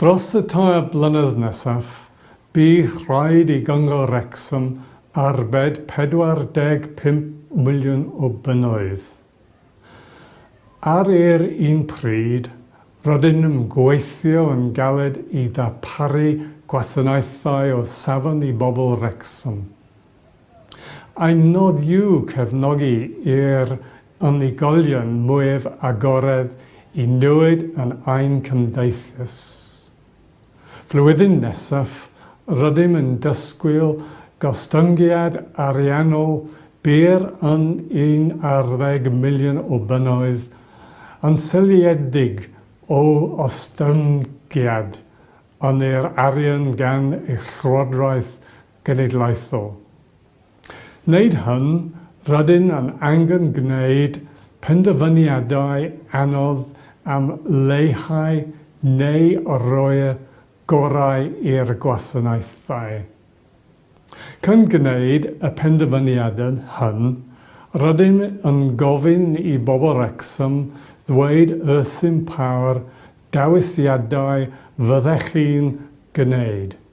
Dros y tair blynedd nesaf, bydd rhaid i Gyngor Wrecsam arbed 45 miliwn o bunnoedd. Ar yr un pryd, rydyn yn gweithio yn galed i ddarparu gwasanaethau o safon i bobl Wrecsam. Ein nod yw cefnogi i'r unigolion mwyaf agored i newid yn ein cymdeithas. Flwyddyn nesaf, rydym yn dysgwyl gostyngiad ariannol byr yn un ar ddeg miliwn o bunnoedd, yn seiliedig o ostyngiad yn yr arian gan eich Llywodraeth genedlaethol. Wneud hyn, rydyn yn angen gwneud penderfyniadau anodd am leihau neu roi'r gorau i'r gwasanaethau. Cyn gwneud y penderfyniadau hyn, rydym yn gofyn i bobl Wrecsam ddweud wrthym pa'r dewisiadau fyddech chi'n gwneud.